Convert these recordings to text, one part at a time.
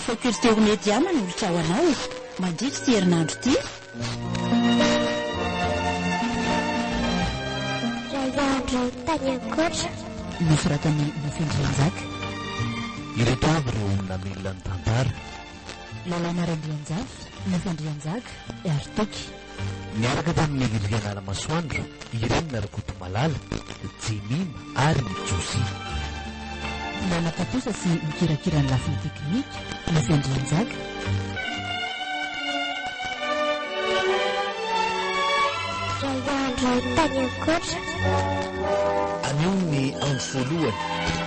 Faculté ho media manolotra ho anao mandritra ity herinandro ity. Raiandro tany ankoatra. Nosoratan'i Nofy Andrianjaka. Ireto avy ireo olona milina ny tantara. Lalàna Randrianjafy, Nifandrianjaka, ary Toky. Niaraka tamin'i Liliana Ramasoandro, Irene Rakotomalala, Jemima ary Josie. Nanatontosa sy nikirakira ny lafiny teknika, Nifandrianjaka. Iray andro tany an-koatra. Anio ny andro voalohany.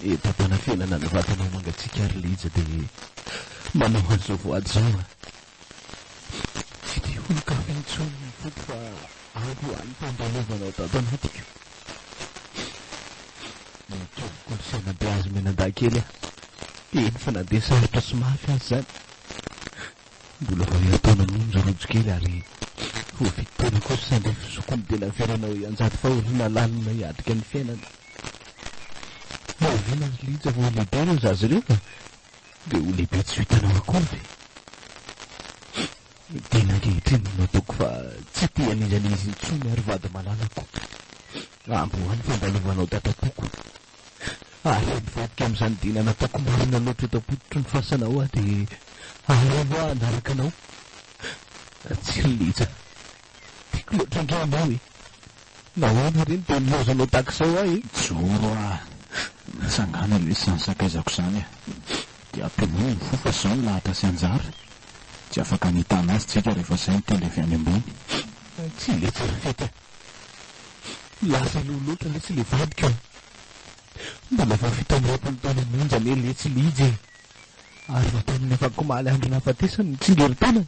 Eto am-panafenana ny vatanao mangatsiaka ry Lija dia manao an'izao voady izao a! Tsy te holon-kafa intsony ny foko fa avy ho any tandalovanao tato anatiko. Nitoby kolosaina be azy mianadahy kely aho, eny fa na dia sarotra sy mafy aza izany. Mbola vao herintaona monja rojo kely ary ho vit taona kosa sandry fizokiny dia naverina ho ianjady fahoriana lalina hiatrika ny fiainana. Oviana ry Lija vao ho lehibe ireo zaza ireo ka dia ho lehibe tsy vitanao akory ve? Ny tena ankehitriny no ataoko fa tsy te hanindran'izy intsony ary vady malalako. Amboa ny fandalovanao dada toko Ary mivadika amin'izany dia nanapako marina loatra eto am-pototry ny fasana aho dia aleo aho hanaraka anao. Tsiriliza, tiako loatra ange ianao e! Nahoana re no dia nilaozanao tahaka izao ahy e? Mijoro aho, mitsangàna aloha izany sakaizako izany a! Dia ampinono ny fo fa izao no lahatra sy anjara. Tsy afaka ny hitàna azy tsika rehefa izay ny tendry avy any ambony. Tsiriliza, fety a! Lasa aloha loatra letsy le vadiko e! Mbola vao vita ny roapolo taona monja anie letsy i Lija e! Ary vao tamin'ny afakomaly andro nahafatesany no tsingerin-tenany!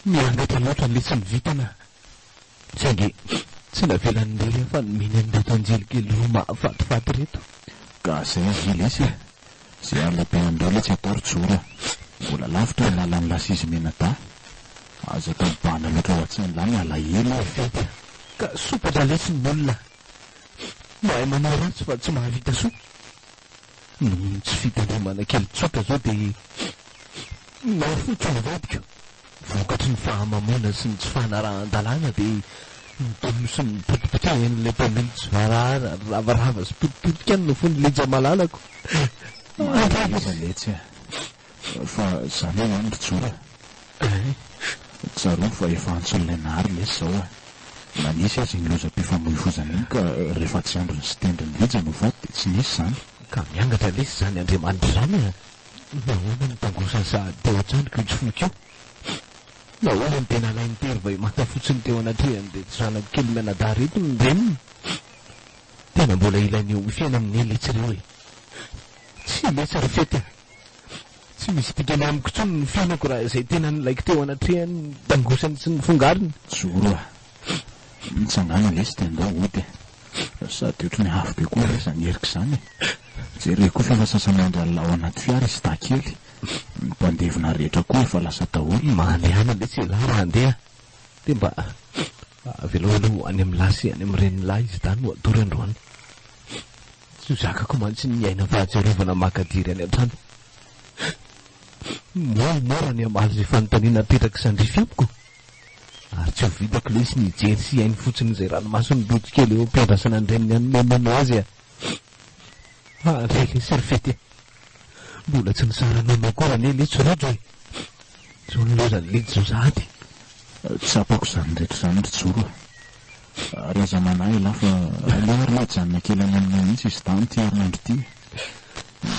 Miangatra loatra letsy ny vintana, saingy tsy navelan'i Ndery afa-nomeny an'ireto anjelikely roa mahafatifaty ireto. Gasy azy ry lesy e! Zay alina be andreo le tsy atao ry jora, mbola lavitra ny lalan'ny lasizy menada, azo atao mibahana loatra ho atsain lahy ny alahelo e! Fety a! Ka soa baba lesy ny olona mahay manao ratsy fa tsy mahavita soa, noho ny tsy fitandremana kely tsotra zao de mafy fotsiny vadiko. Vokatry ny fahamamoana sy ny tsy fanarahan-dalàna dia ny dobo sy ny potipotehan'ilay mpamily tsy voarara, ravarava sy potipotika no fony Lija malalako. Mahaiza letsy a! Fa za ve ihany ry Joe a! Tsarovy fa efa antsoin'ilay Nahary lesy zao a! Na nisy aza iny lozam-pifamoivoizana iny ka rehefa tsy androny sy tendrin'i Lija no faty dia tsy nisy zany. Ka miangatra lesy zany Andriamanitra zany a! Nahoana no tangosany sa dia hoatrany ko itsy foiko io? Nahoana no dia nalainy tery vay manta fotsiny teo anatrehany reto zanako kely mianadahy reto ny reniny? Tena mbola ilainy eo amin'ny fiainany ny letsy ireo e! Tsy letsy ry fety a! Tsy misy dikany amiko intsony ny fiainako raha izay tena nilaiko teo anatrehany ny tangosany sy ny fongariny. Joro a! Mitsangàna lesy dia andao hody e! Sady ohatry ny avy be koa ve izany Eric izany e! Jereo koa fa efa sasa-mandry alina ao anaty fiara izy dahy kely. Ny mpandevina rehetra koa efa lasa daholo. Mandeha lesy ialahy raha handeha dia mba avelao aloha ho any amin'ny lahy sy any amin'ny renin'lahy izy dahy no hatory androany. Tsy ho zakako mantsy ny miaina fahatsiarovana makadiry any an-trano. Moramora ny hamaly izay fanontaniana apetrak'i Sandrify amiko. Ary tsy ho vitako lesy ny hijery sy hihaino fotsiny izay ranomason'ny rojo kely eo am-piandrasana ny reniny any Momono azy a! Ah re re Serfety a! Mbola tsy nisara nono akory anie Litsy rojo e! Zao ny lozan'i Litsy zao sahady! Tsapako izany rehetra izany ry Joro a! Ary aza manahy ialahy fa aleo ary mijanona kely any aminao mihitsy izy dahy amin'ity herinandro ity e!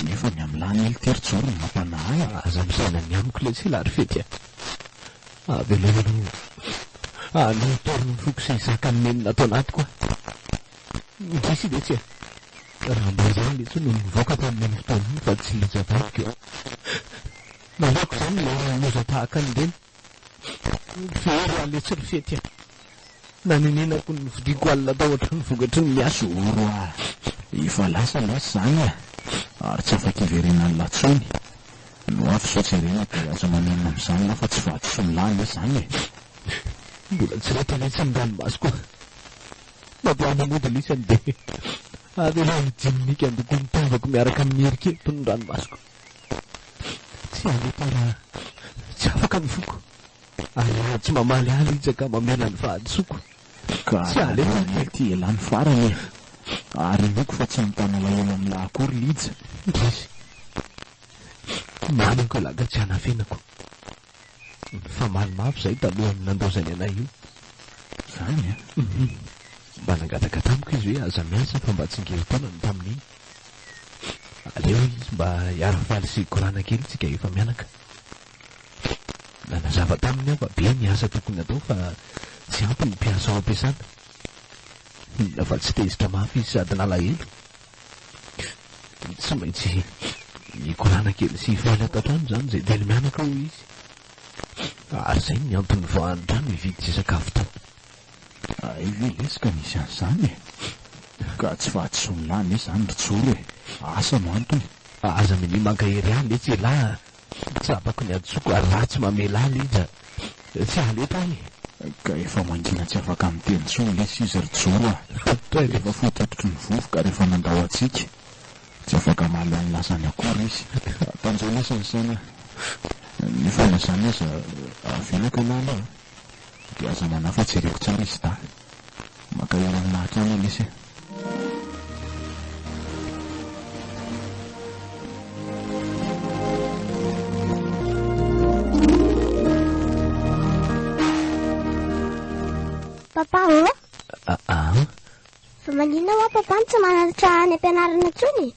Nefa ny am lany ely tery zao no mampanahy. Aza misaina ny amiko lesy la ry fety a! Avelao aloha hahaloa torina ny foko sy zakan'ny nenina ato anatiko a! Indrisy lesy e! Raha mba izany lesy no nivoaka tamin'iny fotoana iny fa tsy nijabadiko e! Maleoko izany ilay loza tahaka an'ireny! Very aho letsy ry fety a! Nanenenako ny vidiako alina tao an-trano vokatry ny miasa o! Oro a! Efa lasa lesy izany a! Ary tsy afa-kiverina alina intsony! No avy sao jerena dia aza manenina amin'izany ianao fa tsy vadisoa-milahy lesy izany e! Mbola tsy ritra letsy ny ranomasoko a! Na dia aza mody lisany dia avy aloha hijininiko handoko ny tavako miaraka amin'ny erikeriky ny ranomasoko! Tsy hahita raha tsy afaka ny foko, ary raha tsy mamaly ahy izy ka mamela ny fahadisoako, Ka tsy halefa aho kely. Ity elah ny farany e! Ary inoako fa tsy hanontany alahelo an'lah akory Lija. Ndrisy! Manako elah ka tsy hanafenako. Nifamaly mafy izahay talohan'ny nandozany anay io. Izany an! Hum. Mba nangataka tamiko izy hoe aza miasa fa mba tsingerin-taona ny tamin'iny. Aleo izy mba hiara-faly sy hikorana kely isika efa mianaka. Nanazava taminy aho fa be ny asa tokony hatao fa tsy ampy ny mpiasa ao am-piasana. Inona fa tsy tezitra mafy izy sady nalahelo. Tsy maintsy nikorana kely sy faly ato an-trano izany izay dia nihanaka hoy izy. Ary izay ny antony nivoahany trano hividy sy sakafo tao. Hay ve lesy ka nisy an'izany e! Ka tsy fahadisoan'ilahy anie izany ry Joro e! Asa no antony. Aza minia mankahery ahy lesy ialahy a! Tsy tsapako ny antsoiko ary raha tsy mamela ahy Lija tsy haletra aho e! Ka efa mangina tsy afaka miteny intsony lesy izy ry Joro a! Efa fohy tototry ny vovoka rehefa nandao hatsiaka. Tsy afaka mahaleo ny lasany akory izy. Tanjao lesy ny saina a! Ny fotoana izany aza avelako ialahy aloha a! Dia aza manahy fa jereko tsara izy dahy. Maka aina amina hatrany Alice e. Papa ô? Ah, ah. Fa maninona hoa papa no tsy manantitra any am-pianarana intsony?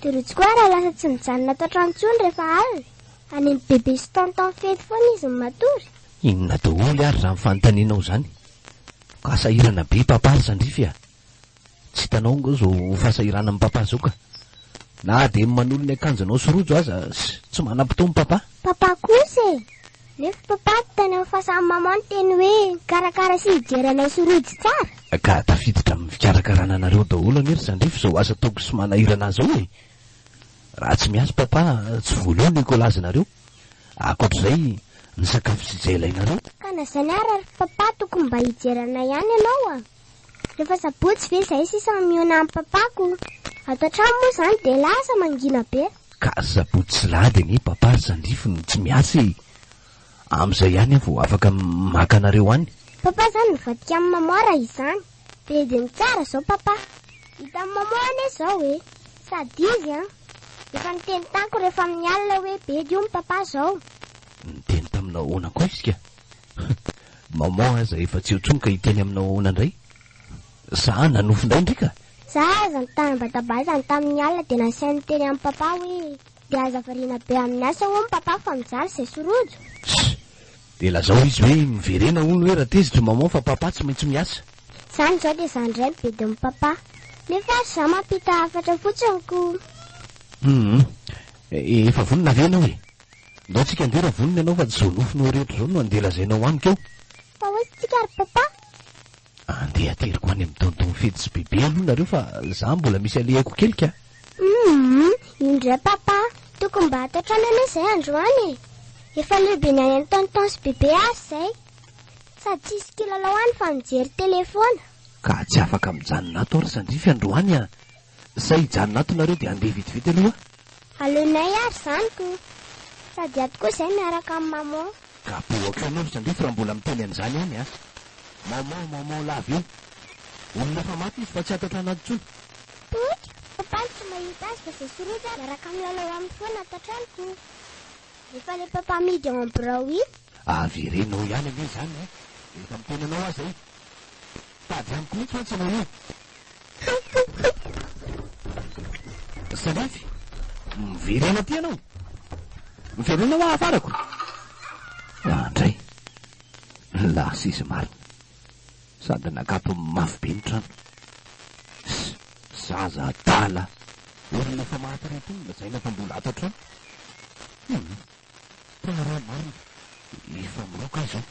Dia rojo koa raha lasa tsy mijanona ato an-trano intsony rehefa alina. Any amin'ny bebe sy tonton fety foana izy no matory. Inona daholo ary zany fanontanianao zany? Ka sahirana be Papa ry Zandrify a! Tsy hitanao nga zao fahasahiranan'i Papa zao ka! Na dia ny manolo ny akanjonao sy rojo aza tsy manam-potoana Papa! Papa kosa e! Nefa Papa hitanao fa samy Maman niteny hoe hikarakara sy hijery anay sy rojo tsara? Ka tafiditra amin'ny fikarakarana anareo daholo anie ry Zandrify zao asa ataoko sy manahirana zao e! Raha tsy miasa Papa tsy voaloha ny kolazanareo! Ankoatra izay, ny sakafo tsy izay ilainareo. Ka na izany ara ry papa tokony mba hijery anay ihany ianao a! Rehefa sabotsy ve izay sisa mihaona an'i papako? Ato an-trano moa izany dia lasa mangina be. Ka sabotsy sy lahady anie papa ry zandrify no tsy miasa e! Amin'izay ihany aho vao afaka maka anareo any. Papa izany mivadika amin'i maman raha izany. Dia dia mitsara zao papa. Hitan'i maman anie zao e. Sady izy an. Efa niteny tamiko rehefa amin'ny alina hoe bedy hono papa zao. Niteny taminao ahoana koa izy ka? Maman aza efa tsy eo tsony ka hiteny aminao ahoana indray? Za nanofy indray ndry ka. Za aza nitanabatabazany tamin'ny alina dia nasainy niteny amin'i papa hoe dia aza variana be amin'ny asa hono papa fa mijaly zay sy rojo. Ssy! Dia lazao izy hoe miverena hono hoe raha tezitra maman fa papa tsy maintsy miasa. Zany zao dia zany indray mividy ny papa. Nefa ary za mampita hafatra fotsiny ko. Humm. Efa vonona ve ianao e? Ndao tsika handeha raha vonona ianao fa tsy zao nofinao rehetra zao no handeha lazainao amiko eo. Fa hoy tsika ry papa. Andeha ateriko any amin'ny tonton Fidy sy Bibi aloha nareo fa za mbola misy alehako kely ka. Humm, indray papa, tokony mba atao trano anie zay androany e! Efa leo be ny any an'i tonton sy Bibi ary zay. Sady tsisy kilalao any fa mijery tele foana. Ka tsy afaka mijanona ato aho ry Sandrify androany an! Zay hijanona ato nareo dia andeha vetivety aloha. Aleonay ary zany ko. Sady ato koa zay miaraka am maman. Gaby ok ianao ry Sandrify raha mbola miteny an'izany any a! Maman maman lava eo. Olona efa maty izy fa tsy ato an-trano ato intsony. Toky, papa no tsy mahita azy fa zay soretra miaraka milalao aminy foana ato an-trano ko. Efa le papa mihidy ao am birao iny. Avereno ao ihany anie izany e! Efa miteny anao aza izy. Tady amiko mihitsy mantsy ianao io. Salafy, miverena aty ianao. Miverena ho ahafarako. Andray, lasa izy marina. Sady nakapony mafy be ny trano. Zaza adala, olona efa maty reto lazaina fa mbola ato an-trano. Tena rah marina efa miroka izy io.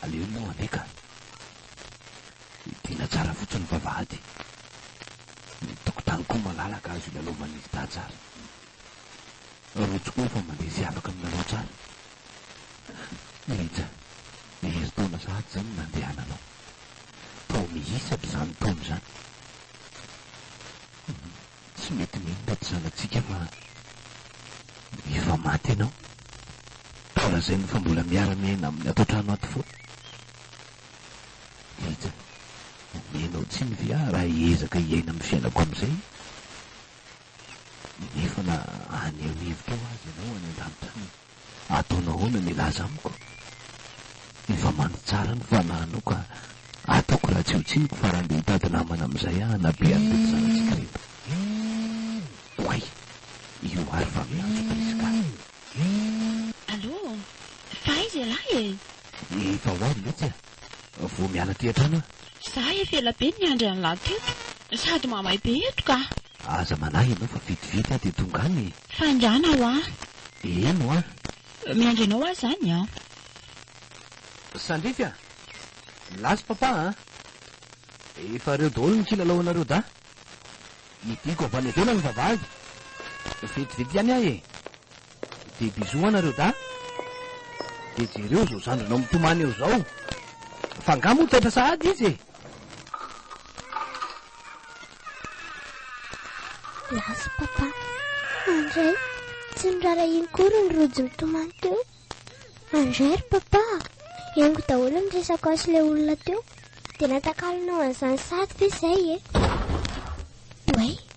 Aleo moa anie ka. Hidiana tsara fotsiny vavahady. Ny tokotany koa malalaka azo hilalaovan'ny gita tsara. Rojo koa efa mandeha sy afaka milalao tsara. Rija, herintaona sahady izany no nandehananao. Tao mihisatra izany taona izany. Hum. Tsy mety mino tato zanatsika fa efa maty ianao ka lazainy fa mbola miara miaina aminy ato antrano ato foana. Rija, ombianao tsiny ve aho raha hiezaka hiaina amin'ny fiainako amin'izay? Nefa na haneho hevitra ho azy ianao any an-danitra any. Ataonao ahoana milaza amiko? Efa mandry tsara ny fanahinao ka ataoko raha tsy ho tsiniko fa raha ndeha hitady namana amin'izay aho hanabe an'ireo zanatsika ireto. Oay! Io ary fa miantso Prisca. Allô? Fa aiza ialahy e? Efa ho avy ve tsy a? vao miala aty an-trano aho. Za efa ela be niandry an'lah teto, sady mamay be eto ka. Aza manahy ianao fa vitividy aho dia tonga any e! Faingàna hoa! Eny hoa! Miandry anao aho izany an! Sandrify a! Milaza Papa an! Efa reo daholo ny kilalao anareo dahy! Hidiko avy any ivelany ny vavahady! Vitividy ihany aho e! Des bisous an nareo dahy. Dia jereo izao zandrinao mitomany eo izao. Fa angaha moa taitra sahady izy e? Las papa. Andray, tsy norarahiny kory ny rojo nitomany teo. Andray ry papa, engo daholo ny resako aso ilay olona teo. Dia natakalonao an'izany sahady ve izay e? Way,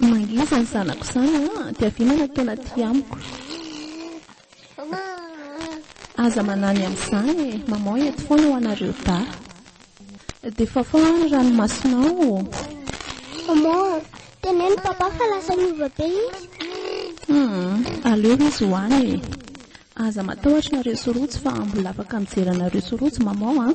Mangihy izany zanako izany an, dia vinana tena tia amiko. Aza manany amin'izany e, maman eto foana ho anareo dahy. Dia fafao ny ranomasonao. Maman, teneno papa fa lasa niova be izy. Hmm, aleo izy ho any e. Aza matahotra nareo sy Rojo fa mbola afaka mijery anareo sy Rojo maman an.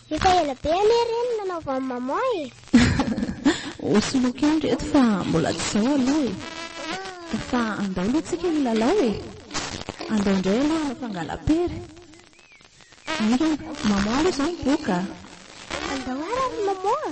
Efa ela be anie ireny no nanaovan'i maman e. Ho soloiko ihany reto fa mbola tsy izao aloha e. Fa andao aloha tsika hilalao e. Andao indray aloha hanao fangala-pery. Aingana, maman aloha izao miboka. Andao ara ry maman.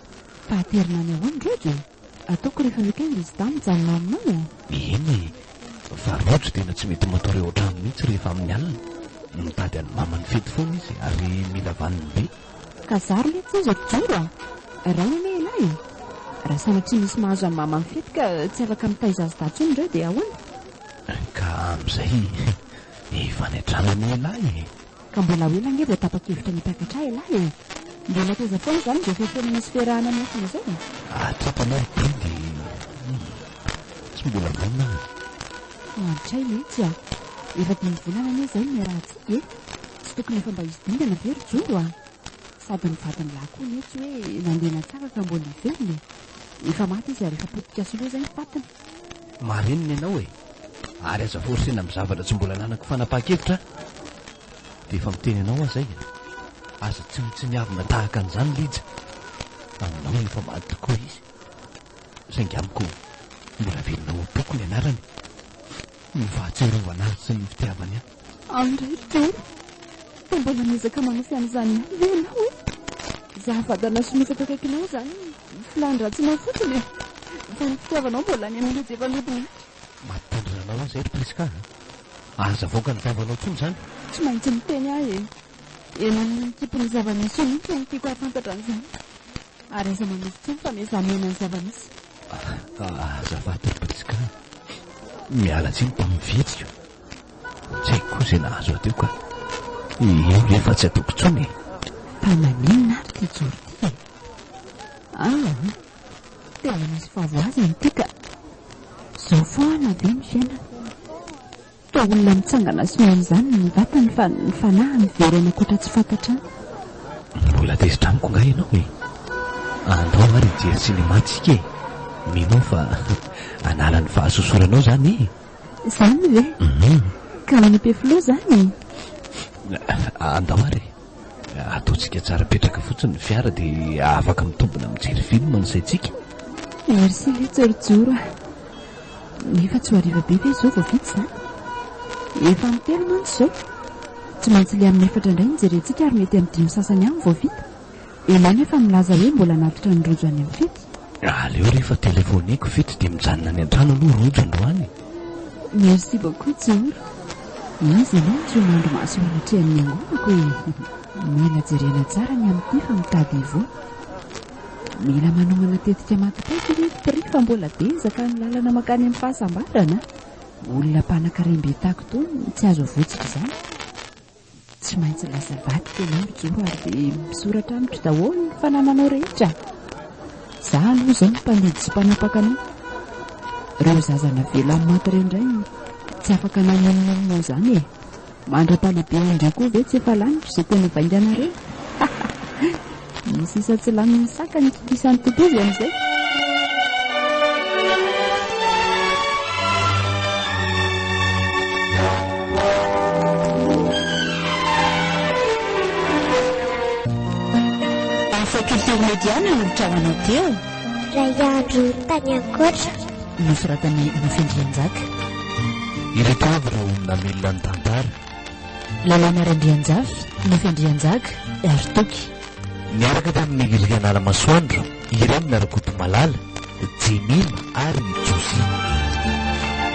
Fa aterina any ahoan reo de ataoko refa weekend izy dahy mijanona aminao e. Eny e, fa rojo tena tsy mety matory ao an-trano mihitsy rehefa amin'ny alina. Mitady an'i mama ny fety foana izy ary mila vaniny be. Ka zary lay tsy azo atijoro a! Ray anie ialahy e! Raha sanatria misy mahazo an'i mama mifety ka tsy afaka mitaiza azy dahy tsony reo de ahoana? Ka amin'izay efa any an-trano anie ialahy e! Ka mbola ahoana ange vao tapa-kevitra ny hitakatra ahy ialahy e! Mbola taiza foana izany izao fiafenana sy fiarahana miafina izao e! Ary tsy ampy anao ny didy e! Humm! Tsy mbola vonona aho e! Hahantraina mihitsy aho! Efa dimy volana anie izay no niarahantsika e! Tsy tokony efa mba hisy dingana ve ry Jongo a! Sady ny vadin'ilahy koa anie tsy hoe nandeha nantsaka ka mbola hiverina e! Efa maty izy ary efa potika sy loza ny fatiny! Marenina ianao e! ary aza forcena amin'ny zavatra tsy mbola ananako fanapahan-kevitra aho dia efa miteny anao aho zay e aza tsinontsiniavina tahaka an'izany lija aminao no efa maty tokoa izy saingy amiko mbola velona ao am-poko ny anarany ny fahatsiarovana azy sy ny fitiavany ahy An ry Tompo fa mbola miezaka manafy an'izany ve ianao e? Izaho vadinao sy mofo akaikinao izany ny filàny ratsinao fotsiny e! Fa ny fitiavanao mbola any amin'io jefa nodimandry. Mampitandrina anao aho izay ry Prisca a! Aza avoaka ny vavanao intsony izany! Tsy maintsy miteny aho e! Eny amin'ny ankipon'ny zava-misy io mihitsy no tiako hahafantatra an'izany! Ary aza manaiky intsony fa miezà mihaino ny zava-misy! Azafady ry Prisca a! Miala tsiny tamin'ny fihetsiko! Tsy haiko koa izay nahazo ahy teo ka. Eo re fa tsy ataoko intsony e. Fa naninona ary ity Jory ity e? Ah, tena misy fahavoazany ity ka. Izao foana ve ny fiainana? Toa olona mitsangana sy mian'izany ny vatany fa ny fanahy miverena ankoatra tsy fantatrany. Mbola tezitra amiko nga ianao e. Andao ary hijery sinema tsika e. Mino aho fa hanala ny fahasosoranao izany e. Zany ve? Mhm. Ka any Ampefiloha zany e? Andao ary e. Ataontsika tsara petraka fotsiny ny fiara dia afaka mitombina mijery film ny saintsika. Merci ve tsorijoro a. Nefa tsy ho hariva be ve izao vao vita izany? Efa amin'ny telo mantsy izao. Tsy maintsy le amin'ny efatra indray ny jerentsika ary mety amin'ny dimy sasany ihany vao vita. Ianao nefa milaza hoe mbola anatitra ny rojo any amin'ny fety? Aleo rehefa telefoneko fety dia mijanona any an-trano aloha rojo androany e! Merci beaucoup Joro. Izy ianao no tsy ho mandry maso eo anatrehan'ny angonako e! Mila jerena tsara ny amin'ity fa mitady hivoaka. Mila manomana tetika maty-paiky ry Tri fa mbola be ezaka ny lalana mankany amin'ny fahasambarana. Olona mpanakarem-be taky tony no tsy azo avotsiko izany. Tsy maintsy lasa vadiko ianao ry Geo ary dia misoratra amiko daholo ny fanananao rehetra. Za aloha izao no mpandidy sy mpanapaka anao. Ireo zaza navela amin'ny maty ireo indray tsy afaka namonomonona an'izany e. Mandra-pahalehibehan'ireo koa ve tsy efa laniko izay tena vainganareo? Ny sisa tsy lanin'ny saka ny kikisan'ny totozy amin'izay. Mediana no trahanao teo Raiandro tany ankoatra Nosoratan'i Nofy Andrianjaka Ireto avy ireo olona milina ny tantara Lalàna Randrianjafy, Nofy Andrianjaka, Dary Toky. Niaraka tamin'i Rianala Masoandro, Irene Rakotomalala, Jemima ary Josina.